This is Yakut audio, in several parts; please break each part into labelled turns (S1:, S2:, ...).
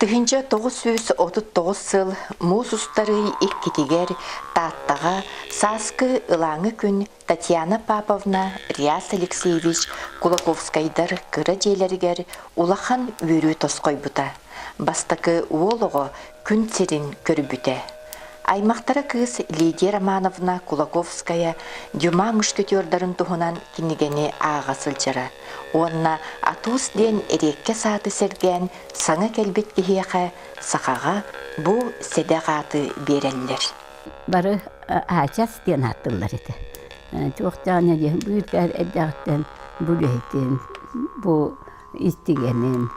S1: Тыһыынча тоҕус сүүс отут тоҕус сыл муус устарыы иккитигэр Тааттаҕа сааскы ылааҥы күн Татьяна Паповна, Реас Алексеевич Кулаковскайдар кыра дьиэлэригэр улахан үөрүү тосхойбута, бастакы уол оҕо күн сирин көрбүтэ. Аймахтара кыыс Лидия Романовна Кулаковская Дюма мушкетердарын туһунан кинигэни ааҕа сылдьара уонна Атус диэн эриэккэс ааты сэргээн саҥа кэлбит киһиэхэ сахаҕа бу сэдэх ааты биэрэллэр. бары
S2: Аачас диэн ааттыыллар этэ. Туохтаан бүүркээр эрдэҕиттэн бу үлэһитин, бу истигэнин,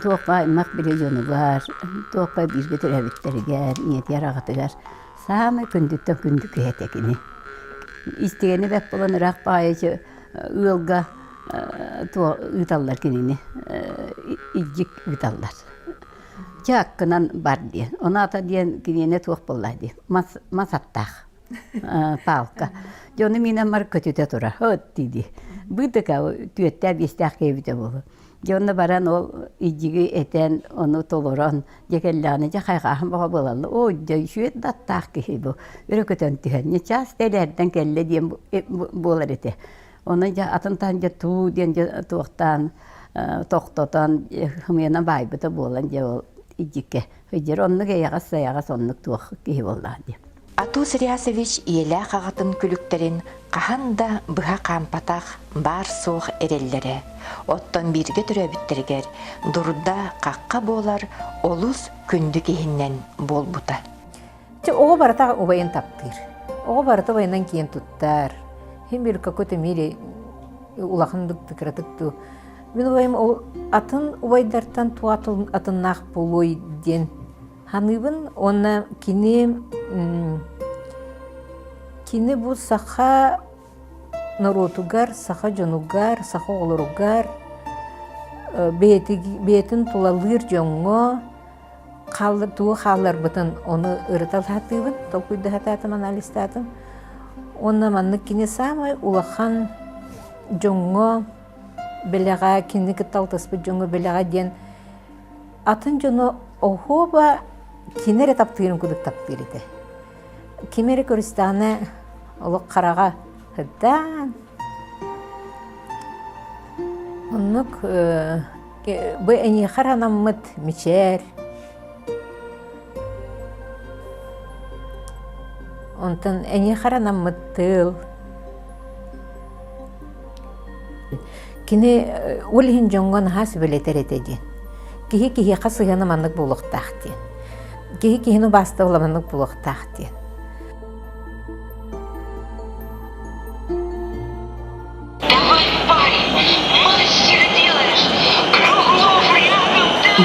S2: туохха аймах били дьонугар, туохха бииргэ төрөөбүттэригэр, ийэтигэр, аҕатыгар саамай күндүттэн күндү киһи этэ кини. Истигэни бэрт булан ыраах баайыччы ыалга ыыталлар кинини, илдьик ыыталлар. Чэ аккынан бар диэн. Онаата диэн киниэнэ туох буолла дии. Мас мас аттаах паалка. Дьэ ону миинэн бар көтүтэ турар. От дии. Быытыка түөртээх биэстээх киэбитэ буолу. Дьэ онно баран ол ижиги этэн ону толорон дьэ кэллэҕинэ дьэ хайҕааһын баҕа буолалла. Оо дьэ сүөт даттаах киһи бу. Өрө көтөн түһэн. Ньычаас тэлээрдэн кэллэ диэн буолар этэ. Оны дьэ атын таһын дьэ туу диэн дьэ туохтаан тохтотон хымыйана баайбыта буолан дьэ ол идьиккэ ыйдьар оннук эйэҕэс сайаҕас оннук туох киһи буоллаҕа диэн. Атус Реасович
S1: ийэлээх аҕатын күлүктэрин хаһан да быһа хаампатах баар-суох эрэллэрэ, оттон бииргэ төрөөбүттэригэр дурда-хахха буолар олус күндү киһинэн буолбута. Чэ, оҕо
S3: барыта убайын таптыыр. Оҕо барыта убайынан киэн туттар. Хин бир какой-то мере улаханнык да кыратык дуу мин убайым ол атын убайдартан туу атыннаах буолуой диэн ханыыбын уонна кини кини бу саха норуотугар саха дьонугар саха оҕолоругар бэйэтин тулалыыр дьоҥҥо тугу хаалларбытын ону ырыта сатыыбын толкуйда сатаатым анализтаатым уонна маннык кини саамай улахан дьоҥҥо бэлэҕэ кинини кытта алтыспыт дьоҥҥо бэлэҕэ диэн атын дьону оһуоба кини эрэ таптыырын курдук таптыыр этэ Ким эрэ Кыристаана олох хараҕа сырдаан оннук бу эйиэхэ анаммыт мичээр онтон эйиэхэ анаммыт тыыл Кини ол иһин дьоҥҥо наһаа сүбэлэтэр этэ диэн. Киһи киһиэхэ сыһыана маннык буолуохтаах диэн. Киһи киһини убаастабыла маннык буолуохтаах диэн.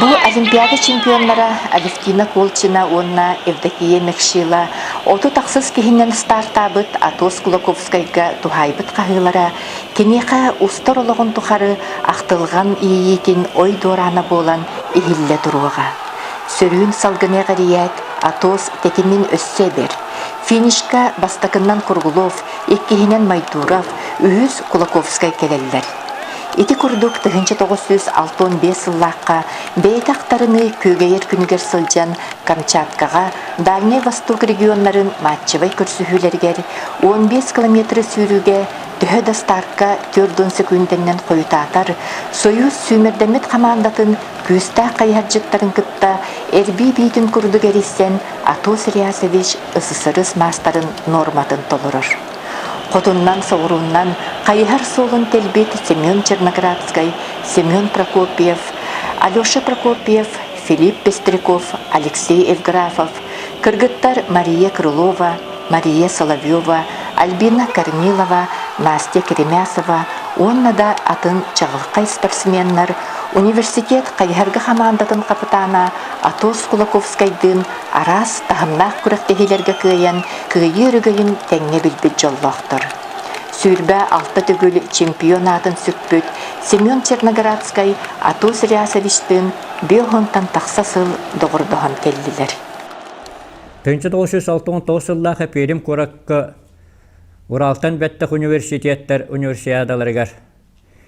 S1: Бу Олимпиада чемпионнара Алевтина Колчина уонна Евдокия Мекшила оту тахсыс киһинэн стартаабыт Атос Кулаковскайга туһаайбыт хаһыылара Киниэхэ устар олоҕун тухары ахтылҕан иэйиитин ой дуораана буолан иһиллэ туруоҕа. Сөрүүн салгыны эҕирийээт, Атос тэтимин өссө эбэр. Финишка бастакыннан Круглов, иккиһинэн Майдуров, үһүс Кулаковскай кэлэллэр. Ити курдук тыһыынча тоҕус сүүс алта уон биэс сыллаахха бэйэтэ ахтарыныы күөгэйэр күнүгэр сылдьан Камчаткаҕа Дальнай Восток регионнарын матчевай көрсүһүүлэригэр уон биэс километры сүүрүүгэ төһө да стартка түөрт уон секундэннэн хойутаатар, Союз сүүмэрдэммит хамаандатын күүстээх хайыһардьыттарын кытта эрбии биитин курдук эрийсэн Атос Реасович ССРС маастарын нуорматын толорор. Хотуннан-соҕурууннан хайыһар суолун тэлбит Семен Черноградскай, Семен Прокопьев, Алеша Прокопьев Филипп Пестряков, Алексей Евграфов, кыргыттар Мария Крылова, Мария Соловьева, Альбина Корнилова, Настя Киремясова уонна да атын чаҕылхай спортсменнар университет хайыһарга хамаандатын хапытаана Атос Кулаковскайдыын араас таһымнаах күрэхтэһиилэргэ кыайан кыайыы өрөгөйүн тэҥҥэ билбит дьоллоохтор. Сүүрбэ алта төгүл чемпион аатын сүкпүт Семен Черноградскай Атос Рясовичтыын биир уһунтан тахса сыл доҕордоһон кэллилэр. Төнчө тоҕус жүз
S4: алта уон тоҕус сыллаах Эпиэрим куоракка Уралтан бэттэх университеттар универсиадаларыгар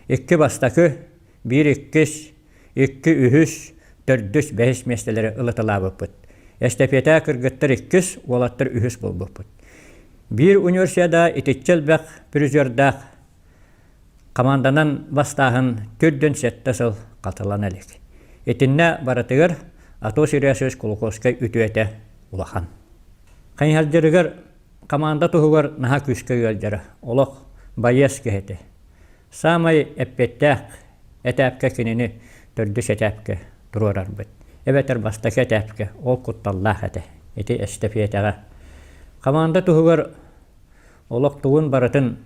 S4: икки бастакы, биир иккис, икки үһүс, төрдүс, бэһис миэстэлэри ылытылаабыппыт. Эстэпиэтэ кыргыттар иккис, уолаттар үһүс буолбуппут. Биир универсиада итиччэ элбэх призердаах Хамаанданан бастааһын түөрт дьон сэттэ сыл хатылана илик. Итиннэ барытыгар Атос Ильясович Кулаковскай үтүөтэ улахан. Хайыһалдьырыгар хамаанда туһугар наһаа күүскэ ыалдьара олох байыас киһитэ. Саамай эппэттээх этээпкэ кинини төрдүс этээпкэ туруорарбыт. Эбэтэр бастакы этээпкэ ол кутталлаах этэ. Ити эстэпиэтэҕэ. Хамаанда туһугар Олохтугун барытын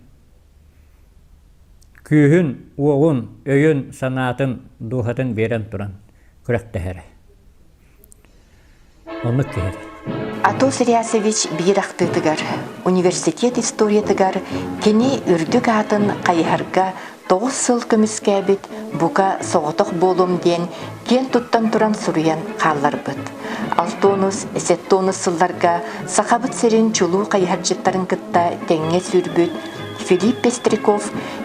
S4: күүһүн, уоҕун, өйүн, санаатын, дууһатын биэрэн туран күрэхтэһэрэ. Оннук киһитэ. Атос
S1: Риасович биир ахтыытыгар университет историятыгар кини үрдүк аатын хайыһарга Тоҕус сыл көмүскээбит, бука, соҕотох буолуом диэн киэн туттан туран суруйан хаалларбыт. Алтонус, Сеттонус сылларга Сахабыт сирин чулуу хайыһардьыттарын кытта тэҥҥэ сүүрбүт Филипп Пестряков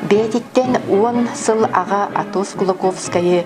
S1: бэйэтиттэн уон сыл аҕа Атос Кулаковскайы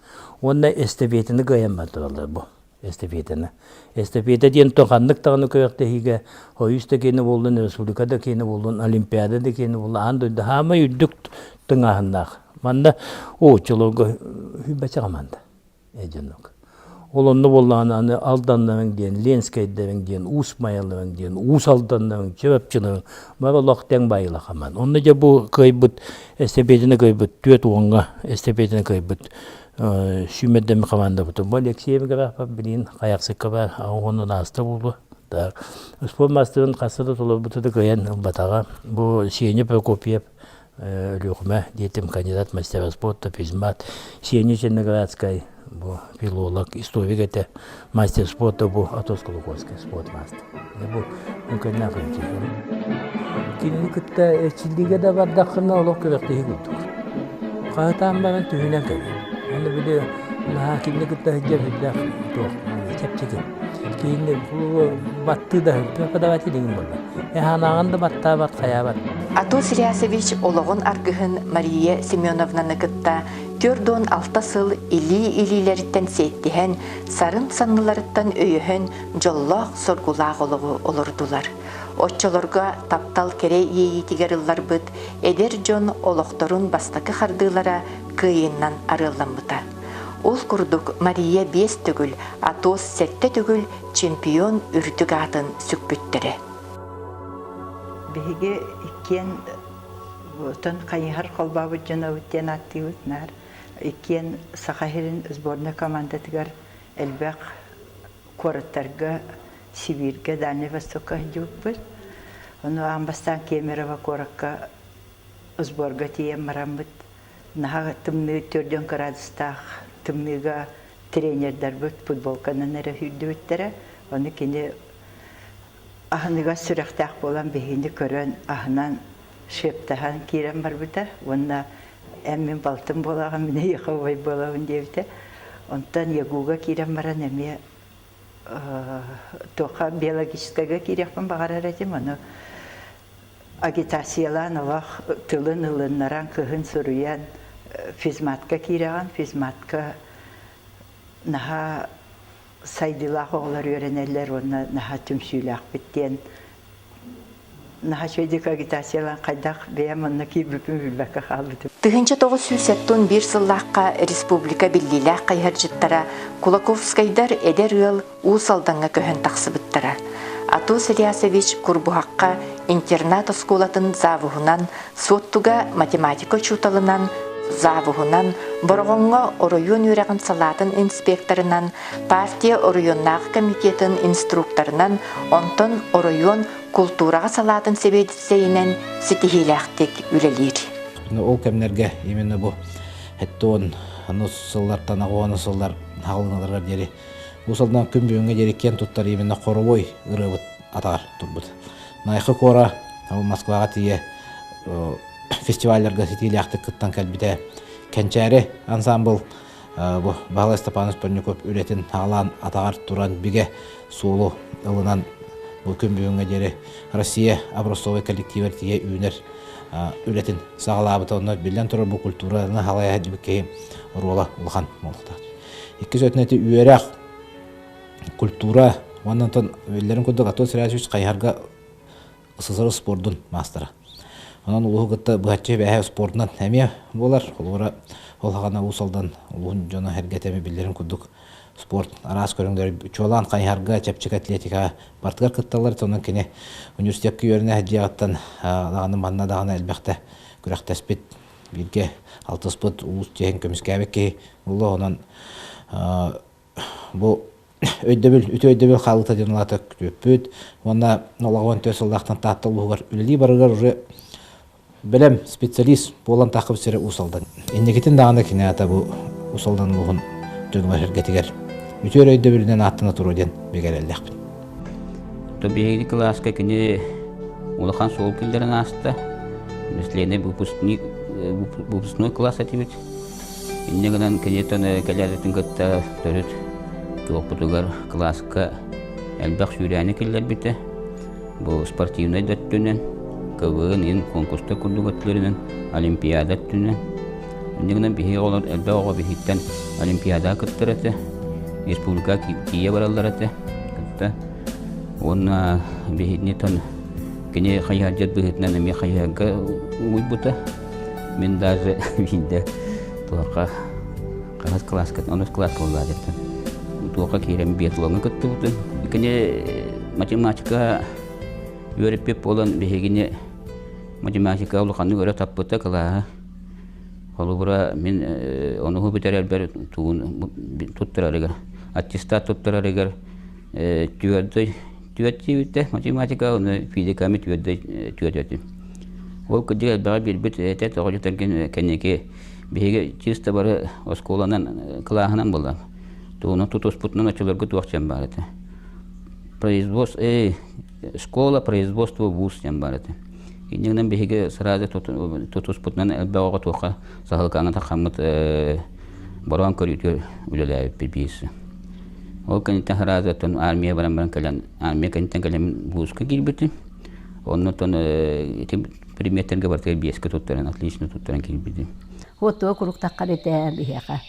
S5: Уонна эстэпиэтини кыайаммат тураллар бу эстэпиэтини. Эстэпиэтэ диэн то ханнык даҕаны күрэхтэһиигэ ойуус да киэнэ буоллун, республика да киэнэ буоллун, олимпиада да киэнэ буоллун, аан дойду хаамай үрдүк тыҥааһыннаах. Манна очолорго бачаҕаман да э дьонок. Ол онно буоллаҕына аны Алданнарыҥ диэн, Ленскэйдэриҥ диэн, Уус Майаларыҥ диэн, Уус Алданнарыҥ, Чурапчыларыҥ Бар олох тэҥ байылахаман. Онно дьэ бу кыайбыт эстэпиэтинэ кыайбыт түөрт уонга эстэпиэтинэ кыайбыт сүүмэрдэммит командабытын бу Алексей Меграфов билин хаяксыккаба уонна нааста булду. Так успуорт мастарын хасыда толорбута да кыайан ылбатаҕа. Бу Сеня Прокопьев Өлүөхүмэ диэтим кандидат мастера спорта, физмат, Сеня Зеленоградскай бу филолог, историк этэ, мастер спорта бу Атос-Кулаковский спорт маастер. Бу үҥкэннээх интиһиэм. Кинини кытта эрчиллиигэ да бардаххына олох күрэхтэһии курдук. Хаһытаан баран түһүнэн кэлэн. Аны били наһаа кинини кытта сылдьар сүрдээх чэпчэки. Киинэ баттыы да сылдьыа кудаҕат илигин буолла. Эһаанааҕын да баттаабат, хайаабат. Атос Рясович
S1: олоҕун аргыһын Мария Семеновнаны кытта түөрт уон алта сыл илии-илиилэриттэн сиэттиһэн, сарын санныларыттан өйөһөн дьоллоох-соргулаах олоҕу олордулар. Оччолорго таптал кэрэ иэйиитигэр ылларбыт эдэр дьон олохторун бастакы хардыылара кыайыннан арыалламмыта. Ол курдук Мария биэс төгүл, Атос сэттэ төгүл чемпион үрдүк аатын сүкпүттэрэ.
S6: Биһиги иккиэн отон хайыһар холбообут дьонобут диэн ааттыыбыт наар иккиэн Саха сирин сборнай командатыгар элбэх куораттарга, Сибииргэ, Дальнай Востокка сылдьыбыппыт. Ону аан бастаан Кемерово куоракка сборга тиийэн бараммыт наһаа тымныы төрт дьон кыраадыстаах тымныыга тренердарбыт футболканан эрэ сүүрдүбүттэрэ ону кини аһыныгас сүрэхтээх буолан биһини көрөн аһынан шептаһан киирэн барбыта уонна эн мин балтым буолаҕын мин эйиэхэ убай буолабын диэбитэ онтон ягуга киирэн баран эмиэ туха биологическайга киириэхпин баҕарар этим ону агитациялаан олох тылын ылыннаран кыһын суруйан физматка киирэҕин физматка наһаа сайдыылаах оҕолор үөрэнэллэр уонна наһаа түмсүүлээхпит диэн Тыһыынча тоҕус сүүс
S1: сеппун биир сыллаахха республика биллиилээх хайыһардьыттара Кулаковскайдар эдэр ыал Уус Алдаҥҥа көһөн тахсыбыттара. Атус Ильясович Курбуһахха интернат-оскуолатын завуһунан, Суоттуга математика учууталынан, завуһунан, Бороҕоҥҥо оройуон үөрэҕин салаатын инспекторынан, Партия оройуоннаах комитетын инструкторынан, онтон оройуон култуураҕа салаатын сэбиэдиссэйинэн ситиһиилээхтик үлэлиир. Ол кэмнэргэ
S7: именно бу эттон анус сыллартан аҕуона сыллар хаалыналарыгар диэри бу сылдан күн бүгүҥҥэ диэри киэн туттар именно хоровой ырыабыт атаҕар турбут. Найха Кора Москваҕа тиийэ фестивалларга ситиилээхтик кыттан кэлбитэ. Кэнчээри ансамбыл бу Баһылай Степанов Панньуков үлэтин хаалаан атаҕар туран бигэ суолу ылынан бу күн бүгүҥҥэ диэри Россия образцовай коллективар тиийэ үүнэр үлэтин саҕалаабыта онно биллэн турар бу культураны халайа диэбит киһи оруола улахан буолуохтаах. Иккис өтүнэти үөрэх, культура уонна онтон биллэрин курдук Антон Сергеевич Хайыһарга СССР спордун маастара. Онон улууһу кытта быһаччы бэһэ спордунан эмиэ буолар. Холобура, ол хана Уус Алдан улууһун дьоно эргэтэмэ биллэрин курдук спорт араас көрүҥлэр чуолаан хайыһарга, чэпчэки атлетика бартыгар кытталлар. Онон кини университетка үөрэнэ дьиэҕиттэн даҕаны манна даҕаны элбэхтэ күрэхтэспит, бииргэ алтыспыт улуус чиэһин көмүскээбит киһи буолла. Онон бу өйдөбүл, үтүө өйдөбүл хаалыыта диэн улаата күтүөппүт уонна олоҕу он төрт сыллаахтан Таатта улууһугар үлэлии барыгар уже бэлэм специалист буолан тааххыбыт сирэ Уус Алдан. Инникитин даҕаны киниэата бу Уус Алдан улууһун дьонугар сэргэтигэр үтүөр өйдөбүлүнэн ааттана туруо диэн бигэрэллэхпин.
S8: Биһиги кылааска кини улахан суол киллэрэн ааста. Наследный выпускник, выпускной класс этибит. Инньэ гынан киниттэн кэлээриттэн кытта төрүт туохпутугар кылааска элбэх сүүрээни киллэрбитэ. Бу спортивнай да өттүнэн, КВН иһин конкурстар курдук өттүлэринэн, олимпиада өттүнэн. Инньэ гынан биһиги оҕолор элбэх оҕо биһиттэн олимпиадаҕа кыттар этэ, республикаҕа тиийэ бараллар этэ кытта. Уонна биһиттэн кини хайыһардьыт быһыытынан эмиэ хайыһарга угуйбута. Мин даже биирдэ туохха хаһыс кылааска онус кылаас буоллаа диэтим. Туохха киирэн биатлоҥҥа кыттыбытын. Кини математика үөрэппит буолан биһигини математика улаханнык өрө таппыта кылааһа. Холобура мин э, ону бүтэрэрбэр тугун туттарарыгар аттестат туттарарыгар түөрдүй түөртүүбүттэ математика оны физиками түөрдүй түөртөтүн ол кырдьык элбэҕи билбит этэ тоҕо дьатанкин кэнники биһиги чисто бары оскуоланан кылааһынан булам тугуну тутуспутунан очуларга туох чэм бар этэ производство э школа производство вуз диэн бар этэ иннигинэн биһиги сразу тутуспутунан элбэҕи туохха саһылкаана такаммыт бороон көрүүтүр үлэлээбиппит биирсэ Ол кэнниттэн сразу оттон армия баран баран кэлэн армия кэнниттэн кэлэмин вузга киирбитим. Оннуттан ити предметтэргэ барытыгар биэскэ туттаран, отлично туттаран киирбитим. Уоттуга
S2: куруктахха битэ биһиэхэ.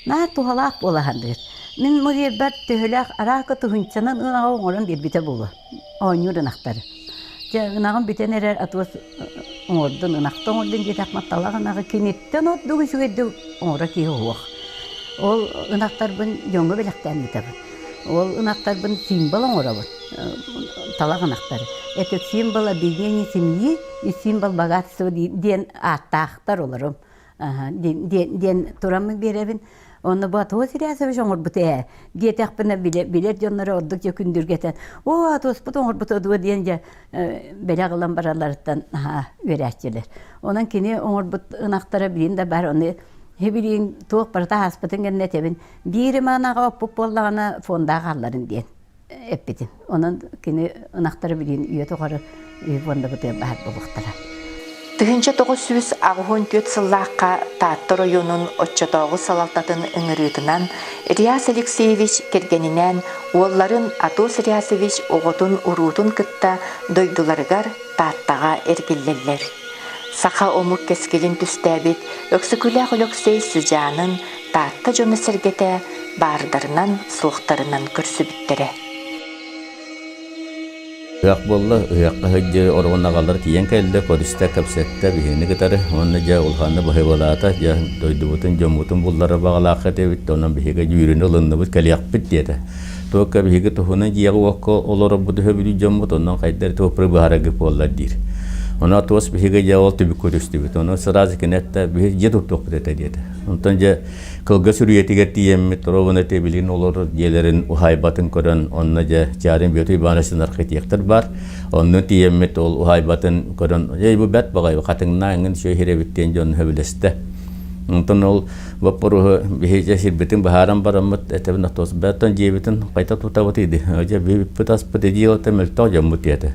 S2: Наар туһалаах буолаһан дыыр. Мин мыгыырбар төһөлөөх араакы туһунчанан ынаҕа оҥорон биэрбитэ буолуо. оонньуур ынахтар. Дьэ ынаҕын бүтэн эрэр атыгас оҥордун, ынахта оҥордун диэтэх матталаах ынаҕы киниттэн ордук үчүгэйдик оҥоро киһи уһуох. Ол ынахтарбын дьоҥҥо бэлэхтээн ыытабын. Ол ынахтарбын символ оҥоробун. Талах ынахтар. Это символ объединения семьи и символ богатства диэн ааттаахтар олорум. диэн тураммын биэрэбин онно боотуо сирээсэбиш оҥорбут ээ диэтэхпинэ билэ билэр дьонноро ордук дьэ күндүргэтэн оо туоспут оҥорбута дуо диэн дьэ бэлэх ылан баралларыттан наһаа үөрэччилэр онон кини оҥорбут ынахтара билин да баар ону билигин туох барыта ааспытын кэннэ этэбин биир манаҕа оппут буоллаҕына фонда хаалларын диэн эппитим. Онон кини ынахтары билигин үйэ тухары үһү уонна бытыан баһар буолуохтара. Тыһыынча
S1: тоҕус сүүс аҕыһын түөрт сыллаахха Таатта оройуонун оччотооҕу салалтатын ыҥырыытынан Ильяс Алексеевич кэргэнинээн уолларын Атос Ильясович оҕотун уруутун кытта дойдуларыгар Тааттаҕа эргиллэллэр. Саха омук кэскилин түстээбит Өксөкүлээх Өлөксөй сыдьаанын Таатта дьоно-сэргэтэ баардарынан, суохтарынан көрсүбүттэрэ.
S8: Ыһыах буолла. Ыһыахха сылдьыы оруон аҕалар тиийэн кэллэ, көрүстэ, кэпсэттэ, биһигини кытары. Уонна дьэ улаханна быһыыбалаата. Дьэ дойдубутун, дьоммутун буллара баҕалаах этибит. Онон биһиги дьүүрүнү ылынныбыт, кэлиэхпит диэтэ. Туокка биһиги туһунан дьиэҕэ-уокка олорорбут үһү бүдүү дьоммут, онон хайдах туоппуруй быһаараргыт буоллар диир. Онон туос биһиги дьиэҕэ ол түбүк көрүстүбүт. Онон сразу кини этэ, биһи дьиэ туттуохпут этэ диэтэ. Онтон дьэ кылгас үрүйэтигэр тиийэммит торобуна тэбилин олор дьиэлэрин уһаайбатын көрөн онно дьэ Чарын Бүөтү Ивановичын архитектор бар. Онну тиийэммит ол уһаайбатын көрөн эй бу бэрт баҕай хатыҥна эҥин сүөһирэбит диэн дьон сөбүлэстэ. Онтон ол боппуруһу биһиже сирбитин баһааран бараммыт этебин отос бәттон дьиэбитин қайта тутабыт иди. Же биппыт аспыт эдиилата мөлтөх жаммут ете.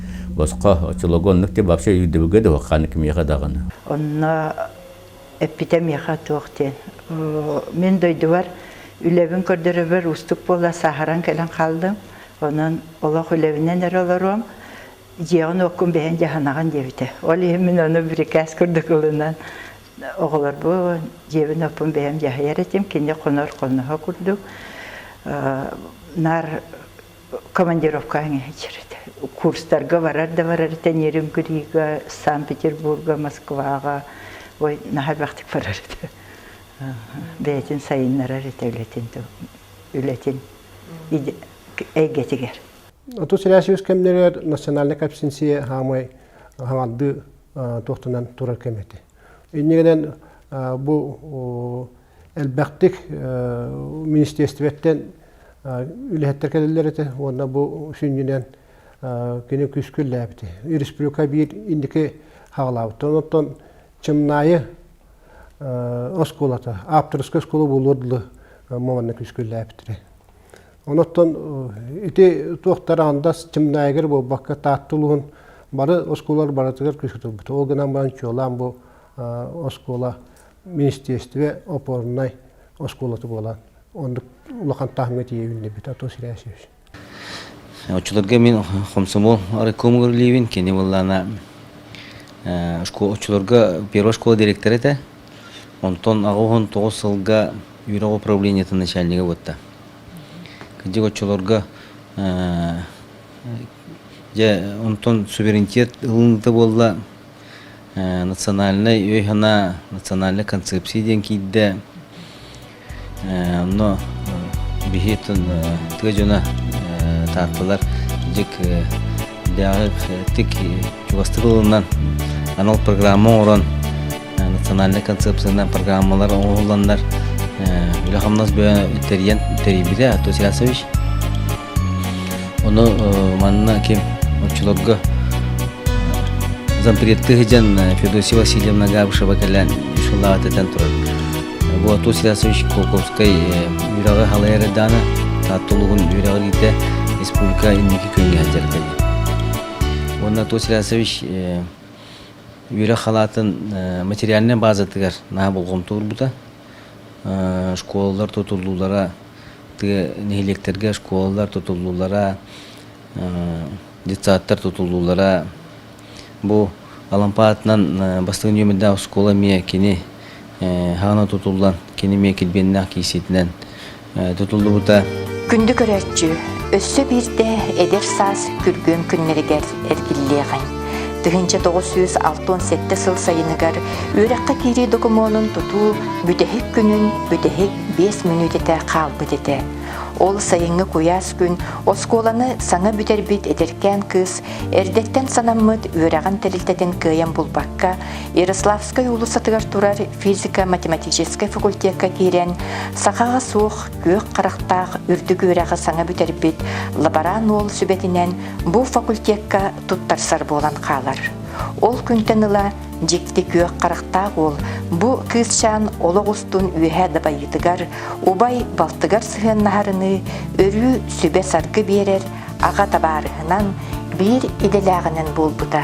S8: Боско, очелогонник ти вообще үйдүбүгэ да ханы кимиэхэ даҕаны. Онно
S6: эппитэ миэхэ туох диэн. Мен дойдубар үлэбин көрдөрөбөр уустук буола сааһаран кэлэн хаалдым. Онон олох үлэбинэн эрэ олоруом. Дьиэҕин уоккун бэһэн дьаһанаҕын диэбитэ. Ол иһин мин ону бирикээс курдук ылынан оҕолорбун дьиэбин оппун бэйэм дьаһайар этим. Кини хонор хоноһо курдук. Наар командировкаҕа иһиччэритэ. Курстарга барар да барар тэниэрим кыриыга, Санкт-Петербурга, Москваҕа, ой, наһаа элбэхтик барар этэ. Бэйэтин сайыннарар этэ үлэтин үлэтин эйгэтигэр. Отус сэрээс
S9: үс кэмнэригэр национальнай кэпсинсийэ хаамай хаҥардыы туохтанан турар кэм этэ. Иннигинэн бу элбэхтик министиэстибэттэн үлэһиттэр кэлэллэр этэ уонна бу сүнньүнэн кини күскүллээбити. Республика биир индики хаалаабыттан оттон Чымнаайы оскуолата, авторская оскуола буолуор дылы маманна күскүллээбитири. Оноттон ити туохтар андас Чымнаайыгар буолбакка Тааттылуун бары оскуолалар барытыгар күскүтүлбүт. Ол гынан баран чуолаан бу оскуола министиэристибэ опорнай оскуолата буолан оннук улахан таһымҥа тиийэ үүннүбүт Атос Ильясьевич.
S10: Оччолорго мин хомсомол райкомугар үлэбин, кини буоллаана оччолорго первая школа директора этэ. Онтон аҕыһын тоҕус сылга Юров управлениетын начальнига буотта. Кыдьык оччолорго дьэ онтон суверенитет ылыныта буолла национальнай өй-санаа, национальнай концепция диэн киирдэ. Онно биһи тыа дьоно таартылар дьик тик чугастык ылынан анал программа оҥорон национальнай концепциянан программалар оҥоһулланнар үлэ-хамнас бөйө тэрийэн тэрийбитэ Артур Сиасович Ону манна ким оччолорго зампредты сыдьан Феодосия Васильевна Габышева кэлэн үсулаҕа этэн турар бу Ату Силасович Кулковскай үрэҕи халайар эрдэҕинэ Таатта улууһун үрэҕи иитэ республика инники күҥҥэ сылдьар кэлэ уонна Ату Силасович үөрэх халаатын материальнай баазатыгар наһаа болҕомто уурбута школалар тутуллуулара тыа нэһилиэктэргэ школалар тутуллуулара детсадтар тутуллуулара бу алампа аатынан бастыҥ нүөмэрдээх оскуола эмиэ кини хаана тутуллан кини эмиэ килбиэннээх киисиитинэн тутуллубута. Күндү
S1: көрөөччү, өссө биирдэ эдэр саас күргүөм күннэригэр эргиллиэҕиҥ. Тыһыынча тоҕус сүүс алта он сэттэ сыл сайыныгар үөрэххэ киирии докумуонун тутуу бүтэһик күнүн бүтэһик биэс мүнүүтэтэ хаалбыт этэ. Ол сайыҥҥы куйаас күн оскуоланы саҥа бүтэрбит эдэркээн кыыс эрдэттэн санаммыт үөрэҕин тэрилтэтин кыайан булбакка Ярославскай уулуссатыгар турар физико-математическай факультекка киирэн, сахаҕа суох, күөх харахтаах үрдүк үөрэҕи саҥа бүтэрбит лаборант уол сүбэтинэн бу факультекка туттарсар буолан хаалар. Ол күнтэн ыла дьикти күөх харахтаах уол бу кыысчаан олох устун үөһэ дабайыытыгар, убай балтыгар сыһыаннаһарыныы өрүү сүбэ-саргы биэрэр, аҕа табаарыһынан биир идэлээҕинэн буолбута.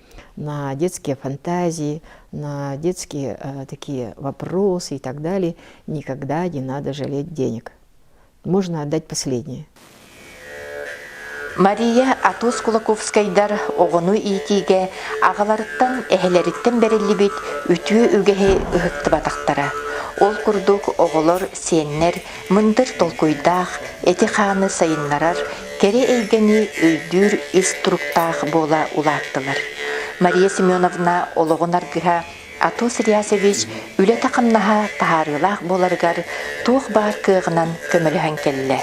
S11: на детские фантазии, на детские э, такие вопросы и так далее, никогда не надо жалеть денег. Можно отдать последнее.
S1: Мария Атус Кулаковскайдар оҕону иитиигэ аҕаларыттан, эһэлэриттэн бэриллибит үтүө үгэһи ыһыктыбатахтара. Ол курдук оҕолор, сиэннэр Мындыр толкуйдаах, эти-хааны сайыннарар, кэрэ эйгэни өйдүүр ис туруктаах буола улааттылар. Мария Семеновна олоҕун аргыһа Атос Реасович үлэтэ-хамнаһа таһаарыылаах буоларыгар туох баар кыаҕынан көмөлөһөн кэллэ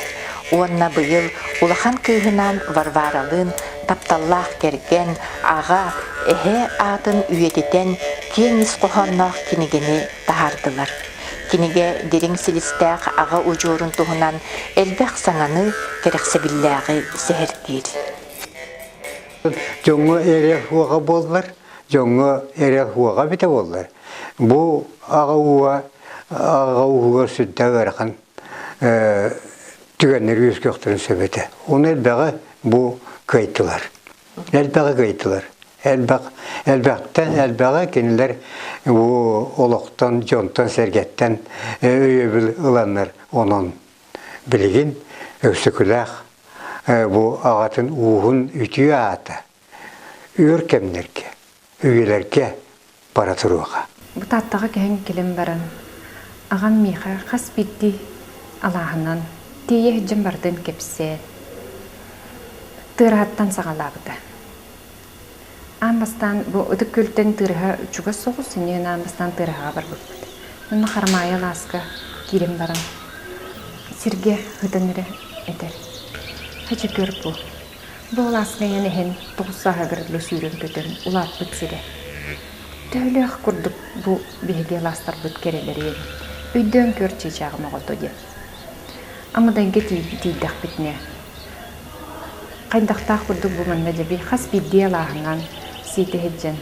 S1: уонна быйыл улахан кыыһынаан Варваралыын тапталлаах кэргэн, аҕа, эһэ аатын үйэтитэн киэҥ ис хоһоонноох кинигэни таһаардылар. Кинигэ дириҥ силистээх аҕа удьуорун туһунан элбэх саҥаны, кэрэхсэбиллээҕи сэһэргиир.
S12: Дьоҥҥо эрэл уоҕа буоллар, дьоҥҥо эрэл уоҕа эбитэ буоллар, бу аҕа ууга аҕа ууһугар сүрдээх ыарахан түгэннэри үөскүөхтэрин сөп этэ. Ону элбэҕи бу кыайтылар. элбэҕи кыйдылар. Элбэх, элбэхтэн элбэҕи кинилэр олохтон, дьонтон, сэргэттэн өйөбүл ыланнар онон билигин Өксөкүлээх бу аҕатын ууһун үтүө аата, өөр кэмнэргэ Үгүлэргэ бара туруоха. Бу Тааттаҕа кэһэн
S13: кэлэн баран, аҕам миэхэ хас биирдии алааһынан тиийэ иһдьэн барытын кэпсээн, тыараһыттан саҕалаабыта. Аан бастаан бу ытык күөлтэн тыараһа чугас соҕус, иннинэн аан бастаан тыараһаҕа барбыппыт. Манна Харамаайа алааска киирэн баран, сиргэ ытан эрэ этэр, «Хача көр бу, Бу алааскайан иһэн тоҕус сааһыгар дылы сүүрэр-көтөр улааппыт сирэ. Төһөлөөх курдук бу биһиги алаастарбыт кэрэлэрэ эбит. Өйдөөн көр чыычааҕым оҕото диэн. Амадайга тиийдэхпитинэ хайдахтаах курдук бу манна дьэби хас биирдии алааһынан сиэтэ сылдьан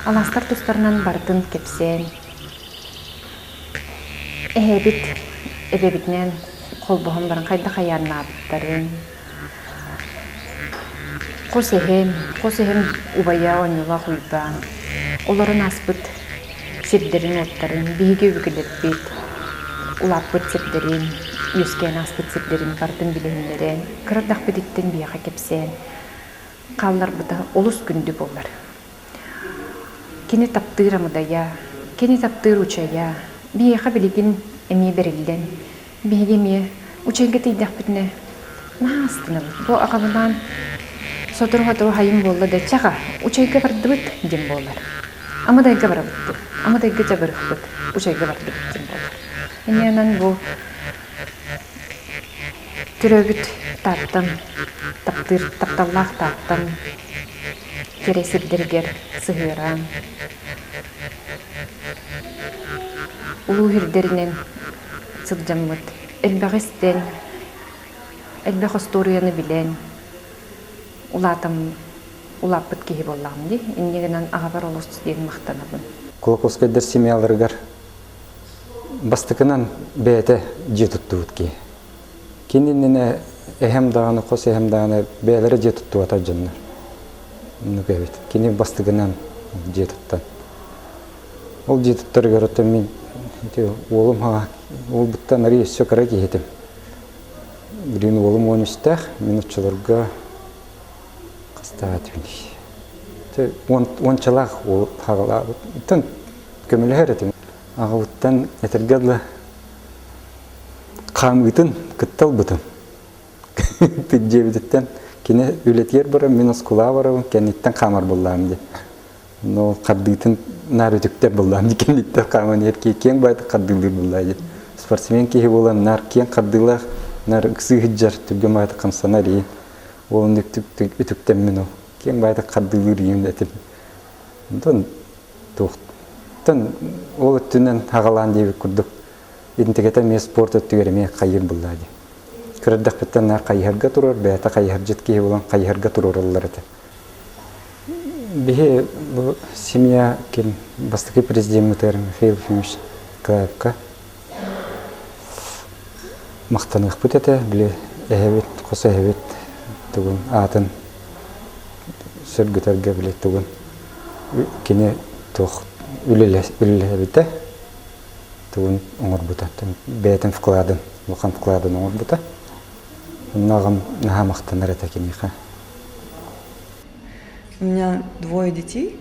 S13: алаастар тустарынан барытын кэпсээн эһэбит эбэбитинээн холбоһон баран хайдах айаннаабыттарын Хос эһэм, хос эһэм убайа оонньуулаах Уйбаан олорон ааспыт сирдэрин-уоттарын биһиги өбүгэлэрбит улааппыт сирдэрин, үөскээн ааспыт сирдэрин барытын билиһиннэрэн, кыра эрдэхпититтэн биһиэхэ кэпсээн хаалларбыта олус күндү буолар. Кини таптыыр амыдайа, кини таптыыр учайа, биһиэхэ билигин эмиэ бэриллэн, биһиги эмиэ учайга тиийдэхпитинэ наһаа астынабыт. Бу аҕабынаан сотору-сотору хайым буолла да чаха учайга бардыбыт диэн буолар. Амыдайга барабыт диэн. Амыдайга дьабырыхпыт, учайга бардыбыт диэн буолар. Ини онон бу Төрөөбүт Тааттан, таптыыр тапталлаах Тааттан кэрэ сирдэригэр сыһыараан, улуу сирдэринэн сылдьаммыт, элбэҕи истэн, элбэх остуоруйаны билэн улаатам, улааппыт киһи буоллаҕым дии. Инньэ гынан аҕабар олус диэн махтанабын. Кулаковскайдар
S14: семьяларыгар Бастакынан бэйэтэ дьиэ туттубут киһи. Кини иннинэ эһэм даҕаны, хос эһэм даҕаны бэйэлэрэ дьиэ туттубата дьоннор. Оннук эбит. Кини бастакынан дьиэ туттан. Ол дьиэ туттарыгар оттон мин ити уолум ха уолбуттан арай өссө кыра киһи этим. Билигин уолум уон үстээх, мин оччолорго Хастаат билий? Уончалаах уол аҕалаабыттан көмөлөһөр этим. Аҕабыттан этэргэ дылы хаамыытын кытта ылбытым. Дьиэбититтэн кини үлэтигэр баран, мин оскулаҕа барабын, кэнниттэн хаамар буллаам диye. Но хардыытын наар үтүктэр буллаам ди кэнниттэн хааман ер киең баайты хардыылыыр буллаа ди. Спортсмен киһи буолан наар киэң хардыылаах, наар ыксыы сыдьар, түргэн баайты хамсанар ии. Уолун үтүктэммин ол киэн байтак хардыылыыр этим. Онтон туохтан ол өттүнэн хагалаан диэбит курдук интигэтэ эмиэ спорт өттүгэр эмиэ хайыыр буллаа дии. Кырдахпыттан наар хайыһарга турар, бэйэтэ хайыһардьыт киһи булан хайыһарга туруораллар этэ. Биһи бу семья ким бастакы президеммытыгар Михаил Ефимович Клаевка махтаныахпыт этэ, били эһэбит, хос эһэбит тугун аатын сөргүтэргэ били тугун кини туох үлэлэһэбитэ, тугун оҥорбута, бэйэтин вкладын, улахан вкладын оҥорбута. Онно аҕам наһаа махтанар этэ киниэхэ.
S15: У меня двое детей.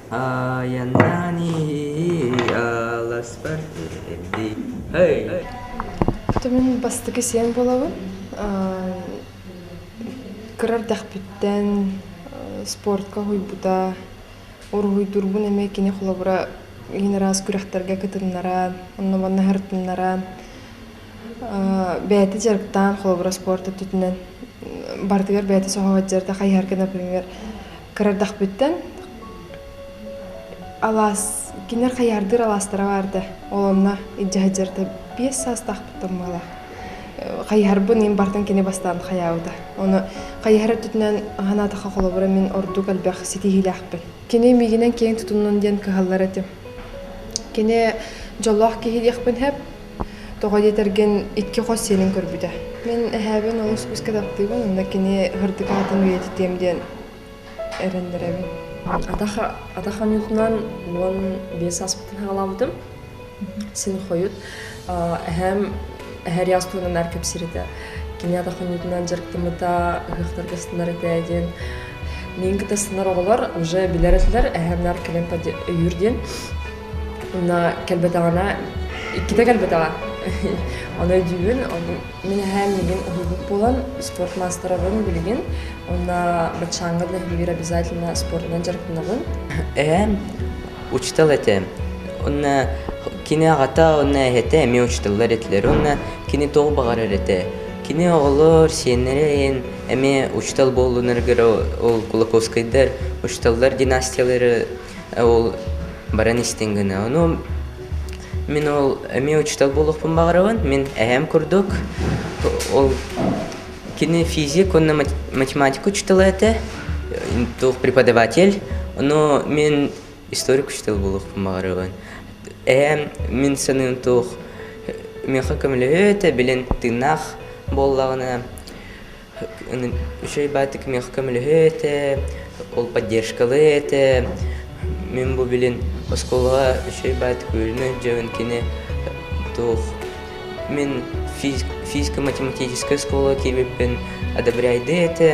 S15: Айаннаан
S16: иһии аласпар тиэрдий һэй Хата мин бастакы сиэн буолабын кыра эрдэхпиттэн спортка уһуйбута уруһуйдуурбун эмиэ кини холобура киин араас күрэхтэргэ кытыннаран онно манна сырытыннаран бэйэтэ дьарыктаан холобура спорт өттүтүнэн барытыгар бэйэтэ соһуһадьар да хайыһар гына күҥҥэр кырардахпыттан алаас кинилэр хайаардыыр алаастара баарда олонно илдьаһыдьарда биэс саастаахпыт тормалаах хайыһарбын ин бартан кини бастаан хайаабыта ону хайыһар өттүтүнэн анаатаха холобура мин ордук элбэх ситиһиилээхпин кини миигинэн киэҥ тутуннун диэн кыһаллар этим кини дьоллоох киһи диэхпин хэп Тоҕо диэтэргин, икки хос сиэним көрбүтэ. Мин эһээбин олус күүскэ таптыыбын, онно кини ыһырдык аатын үйэтитиэм диэн эрэннэрэбин. Атах, атах
S17: хонуутунан уон биэс ааспытын саҕалаабытым. Син хойут эһээм эһэр ыйаас туһунан аар кэпсииритэ. Кини атах хонуутунан дьарыктаммыта, ыһыахтарга ыстынар этэ диэн Миин кытта ыстынар оҕолор уже билэр этилэр, эһэм наар кэлэн өйүүр диэн Ына кэлбэтэҕинэ, иккитэ кэлбэтэҕэ. Ону өйдүүбүн, ону мин эһээ миигин уһуйбут буолан, спорт маастарабын билигин. Онно баччааҥҥа нэһилиэгэр обязательно спорунан дьарыктанабын. Эһээм
S18: учутал этэ. Онно кини аҕата, онно эһэтэ эмиэ учуталлар этилэр. Онно кини тоҕу баҕарар этэ. Кини оҕолор, сиэннэрин эмиэ учутал буоллунаргар ол Кулаковскайдар учуталлар династиялары ол баран истиҥ гынна ну мин ол эмиэ учуутал буолуохпун баҕарабын мин эһэм курдук ол кини физик уонна математика учуутала этэ туох преподаватель но мин историк учуутал буолуохпун баҕарабын эһэм мин саныым туох миэхэ көмөлөһүө этэ билин тыыннаах буоллаҕына Үчүгэй баайдык миэхэ көмөлөһүө этэ, ол поддержкалыа этэ. Мин бу билин оскуолаҕа үчүгэй баайдык үөрэнэ өйдөөбүн кини туох мин физико-математическай оскуолаҕа киирбиппин одобряйдыа этэ.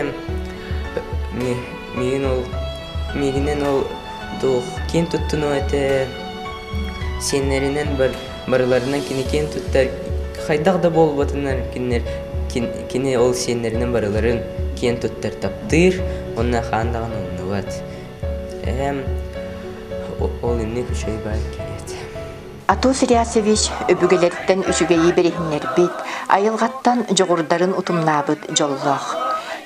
S18: Миигин ол миигинэн ол туох киин туттунуо этэ. Сиэннэринэн бар барыларынан кини киэн туттар хайдах да буолбатынан кинилэр кини ол сиэннэринэн барыларын киэн туттар таптыыр уонна хаан даҕаны умнубат эм ол инник үчүгэй баар киһиэт Атос
S1: Риасевич өбүгэлэриттэн үчүгэйи бэриһиннэрбит, айылҕаттан дьоҕурдарын утумнаабыт дьоллоох.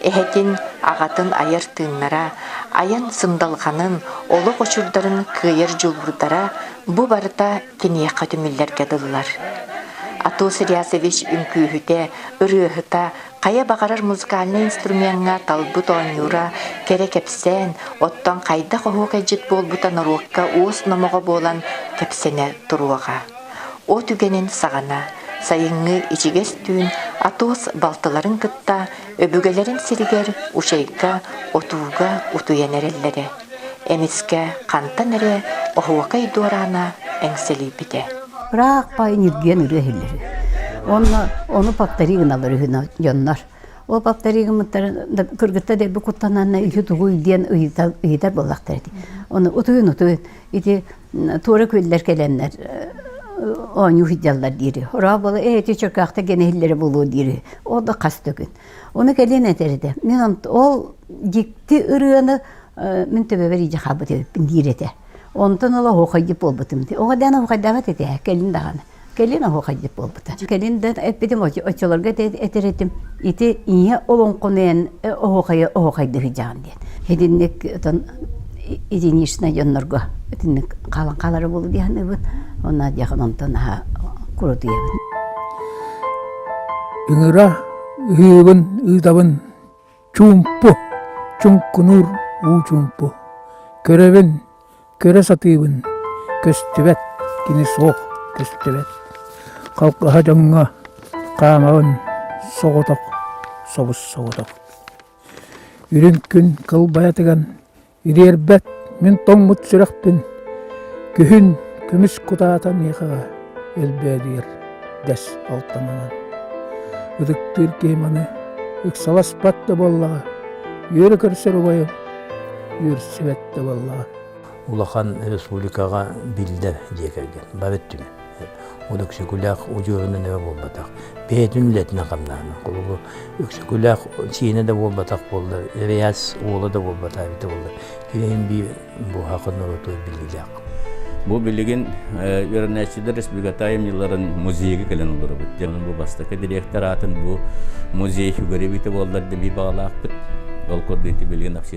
S1: Эһэтин, аҕатын айар тыыннара, айан сындалҕанын, олох очурдарын кыайар дьулуурдара бу барыта киниэхэ түмүллэргэ дыллар. Атос Рясович үҥкүүһүтэ, ырыаһыта, хайа баҕарар музыкальнай инструмеҥҥа талбыт оонньуура кэрэ кэпсээн, оттон хайдах оһуокайдьыт буолбута норуокка уос номоҕо буолан кэпсэнэ туруоҕа. От үгэнин саҕана, сайыҥҥы ичигэс түүн Атос балтыларын кытта Өбүгэлэрин сиригэр Учайга, Отууга утуйан эрэллэрэ. Эмискэ хантан эрэ оһуокай дуораана эҥсэлийбитэ. Ыраах баай
S2: ньиргийэн ырыа иһиллэр үһү. Уонна ону повтори гыналар үһү дьоннор. Ол повтори гыммыттара кыргыттар эрби куттанаанна үһү тугуй диэн ыйытар ыйытар буоллахтар этэ. Ону утуйун утуйун ити туора күөллэр кэлэннэр оонньуу сылдьаллар диэри. Орооболо эти чөкөөхтө гene иһиллэрэ буолуо диэри. Ол да хас да күн. Оны кэлин этэрде. Мен ол дикти ырыаны мен төбөбөр иже хабыт эбиппин диир этэ. Онтон ыла оһохайдып болбутум. Оға дан оһохайдабат этэ. Кэлин даганы. Кэлин оһуохайдык буолбута. Кэлин да эппитим оччолорго этэритим ити ийэ олоҥхону оһуохайы оһуохайда сыдьаҕын диэн. Итинник отон единичнай дьоннорго итинник хаалан хаалара буолу диэханыбыт. Онна диэхин онтон аһа курутуйабыт.
S19: Ыҥыра ыһыыбын ыытабын Чуумпу, чуҥкунуур уу чуумпу. Көрөбүн, көрө сатыыбын, көстүбэт, кини суох, көстүбэт. Халҕаһа дьоҥҥо хаамабын соҕотох, собус-соҕотох. Үрүҥ күн кылбайатыган Ириэрбэт мин тоҥмут сүрэхпин, күһүн күмүс кутаата миэхэҕэ элбээтигэр дэс алтанынан. Ытыктыыр киһим аны ыксаласпат да буоллаҕа, үөрэ көрсөр убайым үөрсүбэт да буоллаҕа. Улахан
S5: республикаҕа биллэр дьиэ кэргэн, бары өттүнэн. Өксөкүлээх удьуорунан эбэ буолбатах. Бэйэтин үлэтинэн хамнаана. Кулугу Өксөкүлээх сиэнэ да буолбатах буолла, Эрэйас уола да буолбатаа эбитэ буолла. Киэһин би буһаакы норуоту билиилээх. Бу
S8: билигин Вернэчида Республиката дьылларын музейга кэлэн олоробут. Дьонун бу бастакы директор аатын бу музей сүгэрибите буоллар да би бағалаақпыт. Ол көрдүйді билигин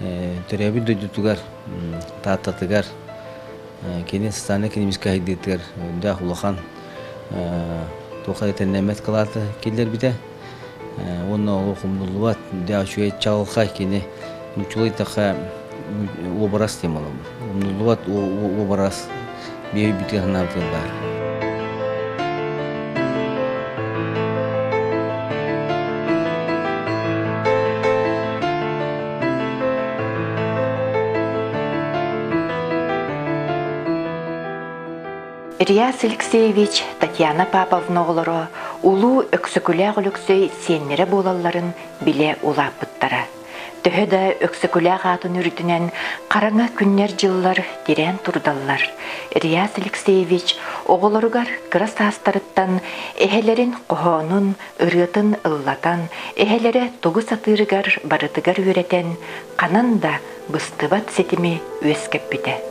S10: төрөөбүт дойдутугар тааттатыгар кини социальнай экономическай сайдыытыгар өрдөөх улахан туохха итэннэммэт кылааты киллэрбитэ уонна ол хомуллубат да үчүгэй чаҕылхай кини нууччалыы айтахха уобарас диэн буолан Буллубат уобарас биир бытыаһынаабытыгар баар.
S1: Ильяс Алексеевич, Татьяна Паповна оҕолоро Улуу Өксөкүлээх Өлөксөй сиэннэрэ буолалларын билэ улааппыттара. Төһө да Өксөкүлээх аатын үрдүнэн хараҥа күннэр-дьыллар тирээн турдаллар, Реас Алексеевич оҕолоругар кыра саастарыттан эһэлэрин хоһоонун, ырыатын ыллатан, эһэлэрэ тугу сатыырыгар барытыгар үөрэтэн, ханан да быстыбат ситими үөскэппитэ.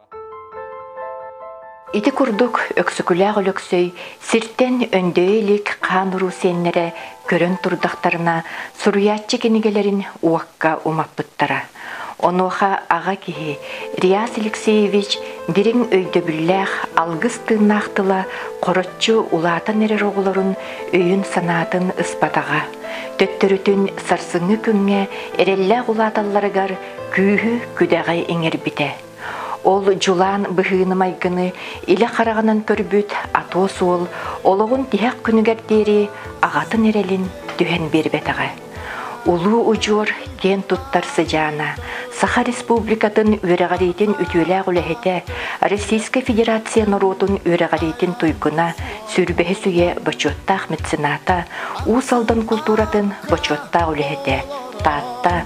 S1: Ити курдук Өксөкүлээх Өлөксөй сиртэн өндөйө илик хаан-уруу сиэннэрэ көрөн турдахтарына суруйааччы кинигэлэрин уокка умаппыттара. Онуоха аҕа киһи Реас Алексеевич дириҥ өйдөбүллээх алгыс тыыннаах тыла хороччу улаатан эрэр оҕолорун өйүн-санаатын ыспатаҕа, төттөрүтүн сарсыҥҥы күҥҥэ эрэллээх улааталларыгар күүһү-күдэҕи иҥэрбитэ. Ол дьулаан быһыыны-майгыны илэ хараҕынан көрбүт Атос уол олоҕун тиһэх күнүгэр диэри аҕатын эрэлин түһэн биэрбэтэҕэ. Улуу удьуор киэн туттар сыдьаана, Саха Республикатын үөрэҕириитин үтүөлээх үлэһитэ, Российскай Федерация норуотун үөрэҕириитин туйгуна, сүрбэһис үйэ бочуоттаах мецената, Уус Алдан култууратын бочуоттаах үлэһитэ, Таатта